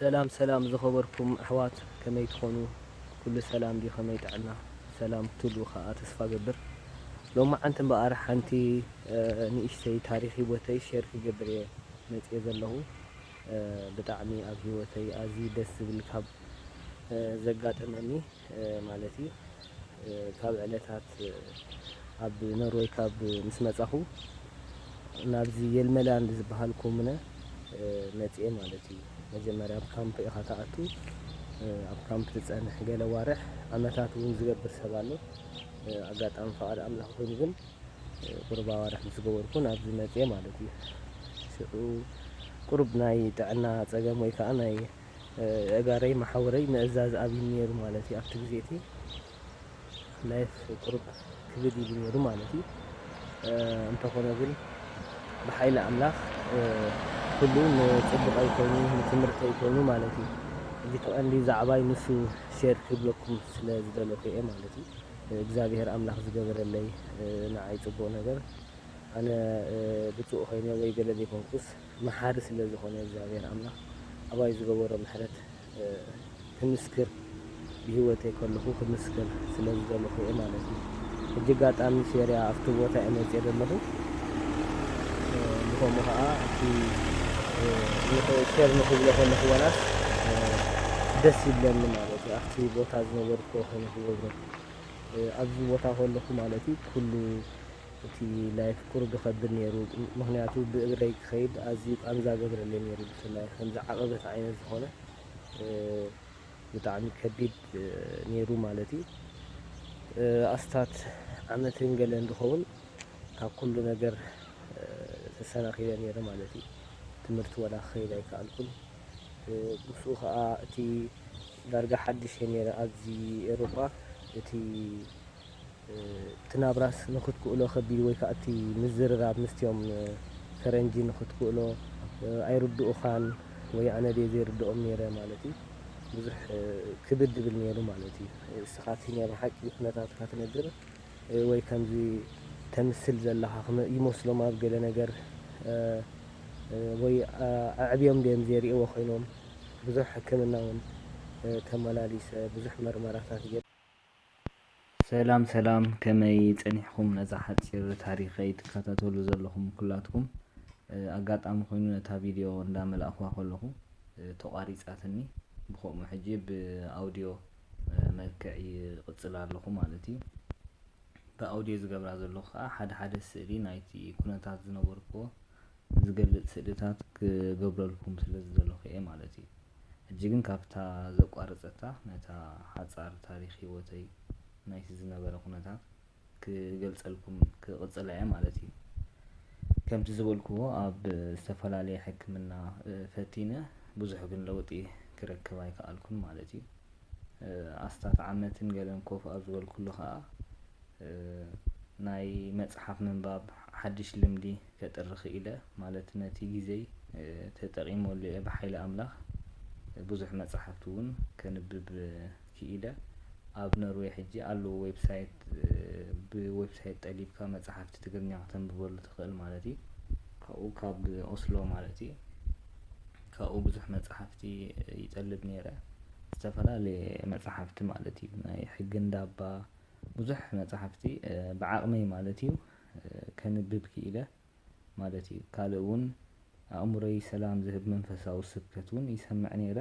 ሰላም ሰላም ዝኸበርኩም ኣሕዋት ከመይ ትኾኑ ኩሉ ሰላም ድዩ ከመይ ጥዕና ሰላም ክትህልዉ ከኣ ተስፋ እገብር ሎማዓንቲ እምበኣር ሓንቲ ንእሽተይ ታሪኽ ሂወተይ ሼር ክገብር እየ መጽየ ዘለኹ ብጣዕሚ ኣብ ሂወተይ ኣዝዩ ደስ ዝብል ካብ ዘጋጠመኒ ማለት እዩ ካብ ዕለታት ኣብ ኖርወይ ካብ ምስ መጻኹ ናብዚ የልመላንድ ዝበሃል ኮሙነ መጽኤ ማለት እዩ መጀመርያ ኣብ ካምፕ ኢኻ ትኣቱ ኣብ ካምፕ ትጸንሕ ገለ ኣዋርሕ ዓመታት እውን ዝገብር ሰብ ኣሎ ኣጋጣሚ ፈቓድ ኣምላኽ ኮይኑ ግን ቁሩብ ኣዋርሕ ምስ ገበርኩ ናብዚ መጽኤ ማለት እዩ ሽዑ ቁሩብ ናይ ጥዕና ጸገም ወይ ከዓ ናይ የእጋረይ መሓውረይ ምእዛዝ ኣብይኒ ነይሩ ማለት እዩ ኣብቲ ግዜ እቲ ላይፍ ቁሩብ ክብድ ኢሉ ነይሩ ማለት እዩ እንተኾነ ግን ብሓይሊ ኣምላኽ ኩሉ ንፅቡቀይ ኮይኑ ንትምህርተይ ኮይኑ ማለት እዩ እዚ ተቐንዲ ዛዕባይ ንሱ ሼር ክብለኩም ስለ ዝደለኩ እየ ማለት እዩ እግዚኣብሄር ኣምላኽ ዝገበረለይ ንዓይ ፅቡቕ ነገር ኣነ ብፁእ ኮይነ ወይ ገለ ዘይኮንኩስ መሓሪ ስለ ዝኾነ እግዚኣብሔር ኣምላኽ ኣባይ ዝገበሮ ምሕረት ክምስክር ብሂወተይ ከለኹ ክምስክር ስለ ዝደለኹ እየ ማለት እዩ ሕጂ ኣጋጣሚ ሴርያ ኣብቲ ቦታ እየ መጽየ ዘለኹ ብኸምኡ ኸኣ እቲ ሼር ንክብሎ ከለኹ ዋላስ ደስ ይብለኒ ማለት እዩ ኣብቲ ቦታ ዝነበርኩ ከይነ ክገብሮ ኣብዚ ቦታ ከለኹ ማለት እዩ ኩሉ እቲ ላይፍ ቁሩብ ይኸብድ ኔሩ ምኽንያቱ ብእግረይ ክኸይድ ኣዝዩ ቃንዛ ገብረለይ ኔሩ ብፍላይ ከምዚ ዓቐበት ዓይነት ዝኾነ ብጣዕሚ ከቢድ ኔሩ ማለት እዩ ኣስታት ዓመትን ገለን ዝኸውን ካብ ኩሉ ነገር ተሰናኺለ ኔረ ማለት እዩ ትምህርቲ ወላ ክኸይድ ኣይከኣልኩን ምስኡ ከዓ እቲ ዳርጋ ሓድሽ እየ ኔረ ኣብዚ ኤሮጳ እቲ እቲ ናብራስ ንኽትክእሎ ከቢድ ወይ ከኣ እቲ ምዝርራብ ምስቲኦም ፈረንጂ ንኽትክእሎ ኣይርድኡኻን ወይ ኣነ ድየ ዘይርድኦም ኔረ ማለት እዩ ብዙሕ ክብድ ይብል ኔሩ ማለት እዩ። እስኻ እቲ ናይ ብሓቂ ኩነታትካ ትነግር ወይ ከምዚ ተምስል ዘለኻ ይመስሎም ኣብ ገለ ነገር ወይ ኣዕብዮም ድዮም ዘይርእይዎ ኮይኖም ብዙሕ ሕክምና ውን ተመላሊሰ ብዙሕ መርመራታት ገይረ። ሰላም ሰላም ከመይ ጸኒሕኩም ነዛ ሓጺር ታሪኸይ ትከታተሉ ዘለኹም ኩላትኩም ኣጋጣሚ ኮይኑ ነታ ቪድዮ እንዳ መላእኽዋ ከለኹ ተቋሪጻትኒ ብኸምኡ ሕጂ ብኣውድዮ መልክዕ ይቕጽል ኣለኹ ማለት እዩ ብኣውድዮ ዝገብራ ዘለኹ ከዓ ሓደ ሓደ ስእሊ ናይቲ ኩነታት ዝነበርክዎ ዝገልጽ ስእልታት ክገብረልኩም ስለ ዝደለኹ እየ ማለት እዩ። ሕጂ ግን ካብታ ዘቋረጸታ ነታ ሓጻር ታሪኽ ህይወተይ ናይቲ ዝነበረ ኩነታት ክገልጸልኩም ክቕጽላ እየ ማለት እዩ። ከምቲ ዝበልክዎ ኣብ ዝተፈላለየ ሕክምና ፈቲነ ብዙሕ ግን ለውጢ ክረክብ ኣይከኣልኩን ማለት እዩ። ኣስታት ዓመትን ገለን ኮፍ ኣብ ዝበልኩሉ ከኣ ናይ መጽሓፍ ምንባብ ሓድሽ ልምዲ ከጥሪ ክኢለ ማለት ነቲ ግዜይ ተጠቒመሉ እየ ብሓይሊ ኣምላኽ ብዙሕ መጻሕፍቲ ውን ከንብብ ክኢለ ኣብ ኖርወይ ሕጂ ኣለዉ ዌብሳይት ብዌብሳይት ጠሊብካ መጻሕፍቲ ትግርኛ ክተንብበሉ ትኽእል ማለት እዩ ካብኡ ካብ ኦስሎ ማለት እዩ ካብኡ ብዙሕ መጻሕፍቲ ይጠልብ ነይረ ዝተፈላለየ መጻሕፍቲ ማለት እዩ ናይ ሕጊ እንዳባ ብዙሕ መጻሕፍቲ ብዓቕመይ ማለት እዩ ከንብብ ክኢለ ማለት እዩ። ካልእ ውን ኣእምሮይ ሰላም ዝህብ መንፈሳዊ ስብከት ውን ይሰምዕ ነይረ።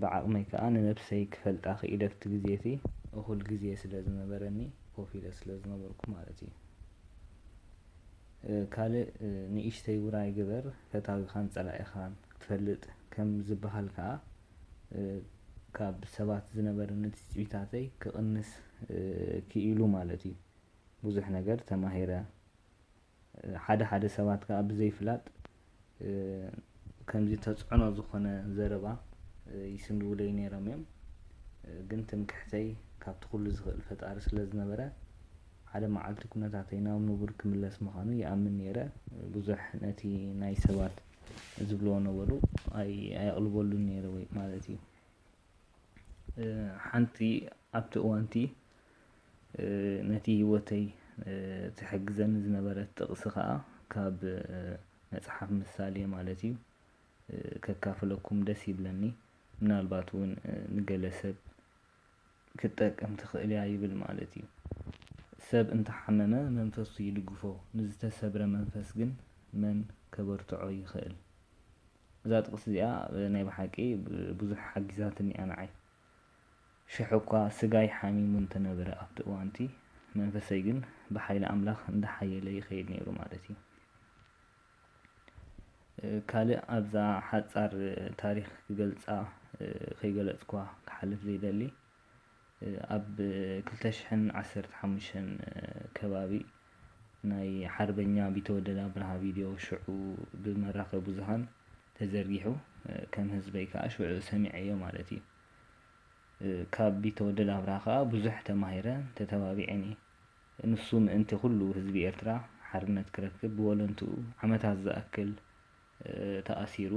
ብዓቕመይ ከኣ ንነብሰይ ክፈልጣ ክኢለ ኣብቲ ግዜ እቲ እኹል ግዜ ስለ ዝነበረኒ ኮፍ ኢለ ስለ ዝነበርኩ ማለት እዩ። ካልእ ንእሽተይ ውራይ ግበር ፈታዊኻን ጸላኢኻን ክትፈልጥ ከም ዝብሃል ከኣ ካብ ሰባት ዝነበረኒ ትጽቢታተይ ክቕንስ ክኢሉ ማለት እዩ። ብዙሕ ነገር ተማሂረ ሓደ ሓደ ሰባት ከኣ ብዘይፍላጥ ከምዚ ተጽዕኖ ዝኾነ ዘረባ ይስንድዉለይ ነይሮም እዮም ግን ትምክሕተይ ካብቲ ኩሉ ዝኽእል ፈጣሪ ስለ ዝነበረ ሓደ መዓልቲ ኩነታተይ ናብ ንቡር ክምለስ ምዃኑ ይኣምን ነይረ ብዙሕ ነቲ ናይ ሰባት ዝብልዎ ነበሩ ኣየቕልበሉን ነይረ ወይ ማለት እዩ ሓንቲ ኣብቲ እዋንቲ ነቲ ህይወተይ ትሕግዘኒ ዝነበረት ጥቕሲ ኸኣ ካብ መጽሓፍ ምሳሌ ማለት እዩ ከካፍለኩም ደስ ይብለኒ። ምናልባት እውን ንገለ ሰብ ክትጠቅም ትኽእል እያ ይብል ማለት እዩ። ሰብ እንተሓመመ መንፈሱ ይድግፎ፣ ንዝተሰብረ መንፈስ ግን መን ከበርትዖ ይኽእል? እዛ ጥቕሲ እዚኣ ናይ ብሓቂ ብዙሕ ሓጊዛትኒ እያ ንዓይ። ሽሕ'ኳ ስጋይ ሓሚሙ እንተ ነበረ ኣብቲ እዋን'ቲ፣ መንፈሰይ ግን ብሓይሊ ኣምላኽ እንዳ ሓየለ ይኸይድ ነይሩ ማለት'ዩ። ካልእ ኣብዛ ሓጻር ታሪኽ ክገልጻ ከይገለጽኩዋ ክሓልፍ ዘይደሊ፣ ኣብ ክልተ ሽሕን ዓሰርተ ሓሙሽተን ከባቢ፣ ናይ ሓርበኛ ቢተወደድ ኣብርሃ ቪድዮ ሽዑ ብመራኸቢ ብዙሃን ተዘርጊሑ ከም ህዝበይ ከኣ ሽዑ ሰሚዐዮ ማለት እዩ። ካብ ቢተወደድ ኣብርሃ ከኣ ብዙሕ ተማሂረን ተተባቢዔን እየ። ንሱ ምእንቲ ኩሉ ህዝቢ ኤርትራ ሓርነት ክረክብ ብወለንትኡ ዓመታት ዝኣክል ተኣሲሩ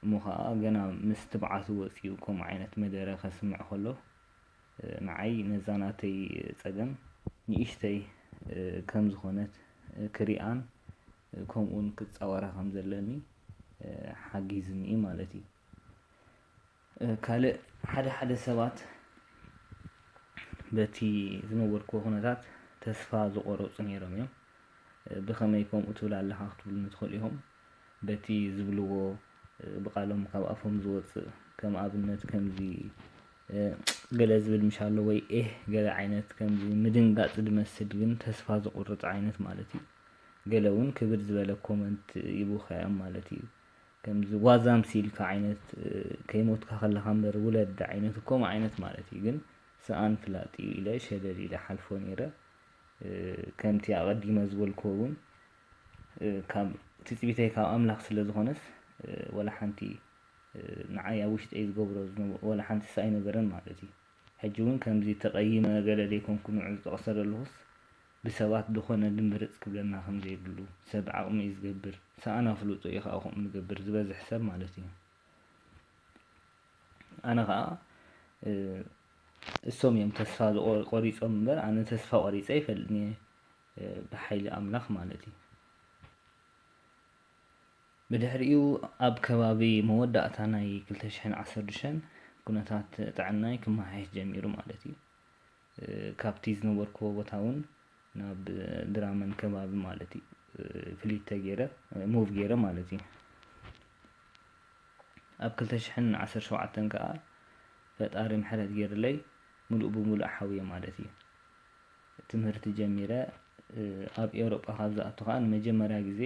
እሞ ከኣ ገና ምስ ትብዓቱ ወጺኡ ከምኡ ዓይነት መደረ ከስምዕ ከሎ ንዓይ ነዛ ናተይ ጸገም ንእሽተይ ከም ዝኾነት ክሪኣን ከምኡውን ክጻወራ ከም ዘለኒ ሓጊዝኒ እዩ ማለት እዩ። ካልእ ሓደ ሓደ ሰባት በቲ ዝነበርኩዎ ኩነታት ተስፋ ዝቆረጹ ነይሮም እዮም። ብኸመይ ከምኡ ትብል ኣለኻ ክትብሉኒ ትኽእሉ ኢኹም። በቲ ዝብልዎ ብቃሎም ካብ ኣፎም ዝወጽእ ከም ኣብነት ከምዚ እጽ ገለ ዝብል ምሽ ኣሎ ወይ ኤህ ገለ ዓይነት ከምዚ ምድንጋጽ ዝመስል ግን ተስፋ ዝቁርጽ ዓይነት ማለት እዩ ገለ ውን ክብድ ዝበለ ኮመንት ይቡካዮም ማለት እዩ ከምዚ ዋዛ ምሲልካ ዓይነት ከይሞትካ ከለካ እምበር ውለድ ዓይነት ኮምኡ ዓይነት ማለት እዩ ግን ሰኣን ፍላጥ እዩ ኢለ ሸለል ኢለ ሓልፎ ነይረ ከምቲ ኣቀዲመ ዝበልክዎ ውን ካብ ትጽቢተይ ካብ ኣምላኽ ስለ ዝኾነስ ወላ ሓንቲ ንዓይ ኣብ ውሽጠይ ዝገብሮ ዝነበ ወላ ሓንቲስ ኣይነበረን ማለት እዩ። ሕጂ እውን ከምዚ ተቐይመ ገለ ዘይኮንኩ ንዑ ዝጠቕሰ ዘለኹስ ብሰባት ድኾነ ድምብርጽ ክብለና ከም ዘይብሉ ሰብ ዓቕሙ እዩ ዝገብር ሰኣን ኣፍልጦ እዩ ከኣ ከምኡ ዝገብር ዝበዝሕ ሰብ ማለት እዩ። ኣነ ከኣ እሶም እዮም ተስፋ ቆሪጾም እምበር ኣነ ተስፋ ቆሪጸ ኣይፈልጥን እየ። ብሓይሊ ኣምላኽ ማለት እዩ። ብድሕሪኡ ኣብ ከባቢ መወዳእታ ናይ ክልተ ሽሕን ዓሰርተ ኩነታት ጥዕናይ ክመሓየሽ ጀሚሩ ማለት እዩ። ካብቲ ዝነበርኩዎ ቦታ እውን ናብ ድራመን ከባቢ ማለት እዩ ፍሊት ተገይረ ሙቭ ገይረ ማለት እዩ ኣብ ክልተ ሽሕን ዓሰርተ ሸውዓተን ከዓ ፈጣሪ ምሕረት ገይርለይ ሙሉእ ብሙሉእ ሓውየ ማለት እዩ ትምህርቲ ጀሚረ ኣብ ኤውሮጳ ካብ ዝኣቱ ከኣ ንመጀመርያ ግዜ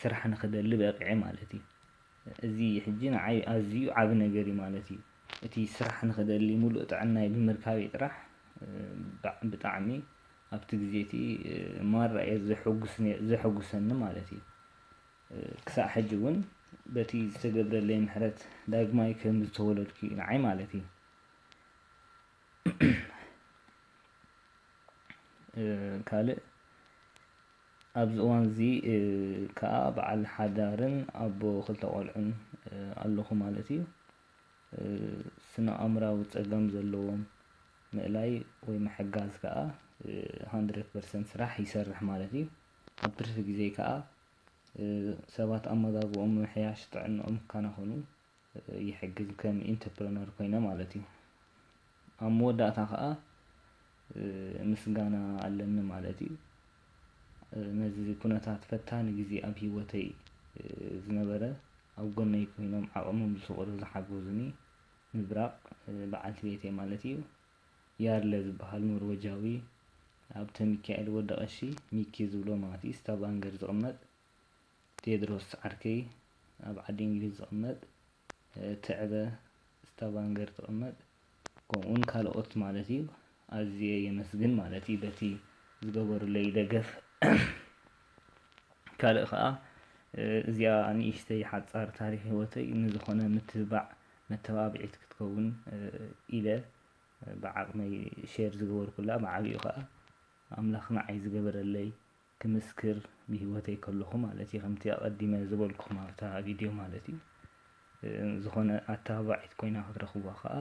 ስራሕ ንክደሊ በቒዐ ማለት እዩ። እዚ ሕጂ ንዓይ ኣዝዩ ዓቢ ነገር እዩ ማለት እዩ። እቲ ስራሕ ንክደሊ ምሉእ ጥዕናይ ብምርካበይ ጥራሕ ብጣዕሚ ኣብቲ ግዜ እቲ ማራ እየ ዘሕጉስ ነይ ዘሕጉሰኒ ማለት እዩ። ክሳዕ ሕጂ ውን በቲ ዝተገብረለይ ምሕረት ዳግማይ ከም ዝተወለድኩ እዩ ንዓይ ማለት እዩ። ካልእ ኣብዚ እዋን እዚ ከኣ በዓል ሓዳርን ኣቦ ክልተ ቆልዑን ኣለኹ ማለት እዩ። ስነ ኣእምራዊ ጸገም ዘለዎም ምእላይ ወይ ምሕጋዝ ከኣ ሃንድረድ ፐርሰንት ስራሕ ይሰርሕ ማለት እዩ። ኣብ ትርፊ ግዜ ከኣ ሰባት ኣመጋግብኦም ምምሕያሽ ጥዕንኦም ክከናኸኑ ይሕግዝ ከም ኢንተፕረነር ኮይነ ማለት እዩ ኣብ መወዳእታ ከኣ ምስጋና ኣለኒ ማለት እዩ ነዚ ኩነታት ፈታኒ ግዜ ኣብ ሂወተይ ዝነበረ ኣብ ጎነይ ኮይኖም ዓቕሞም ዝስቕሩ ዝሓገዙኒ ምብራቕ በዓልቲ ቤተይ ማለት እዩ ያርለ ዝበሃል ኖርወጃዊ ኣብተ ሚካኤል ወደቐሺ ሚኪ ዝብሎ ማቲስ ታባንገር ዝቕመጥ ቴድሮስ ዓርከይ ኣብ ዓዲ እንግሊዝ ዝቅመጥ ትዕበ ስታቫንገር ትቅመጥ ከምኡውን ካልኦት ማለት እዩ ኣዝየ የመስግን ማለት እዩ በቲ ዝገበሩለይ ደገፍ ካልእ ከዓ እዚኣ ንእሽተይ ሓፃር ታሪክ ህይወተይ ንዝኾነ ምትብባዕ መተባብዒት ክትከውን ኢለ ብዓቅመይ ሼር ዝገበርኩላ ብዓብኡ ከዓ ኣምላኽ ንዓይ ዝገበረለይ ክምስክር ብሂወተይ ከለኹ ማለት እዩ ከምቲ ኣቀዲመ ዝበልኩኹም ኣብታ ቪድዮ ማለት እዩ ዝኾነ ኣተባባዒት ኮይና ክትረኽብዋ ከኣ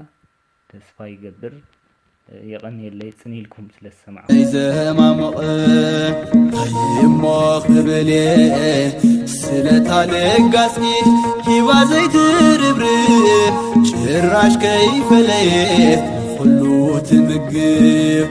ተስፋ ይገብር የቐንየለይ ጽን ኢልኩም ስለ ዝሰማዕኩም ዘማሞቕ ኣይሞ ክብል ስለታ ለጋስኪ ሂባ ዘይትርብርብ ጭራሽ ከይፈለየት ኩሉ ትምግብ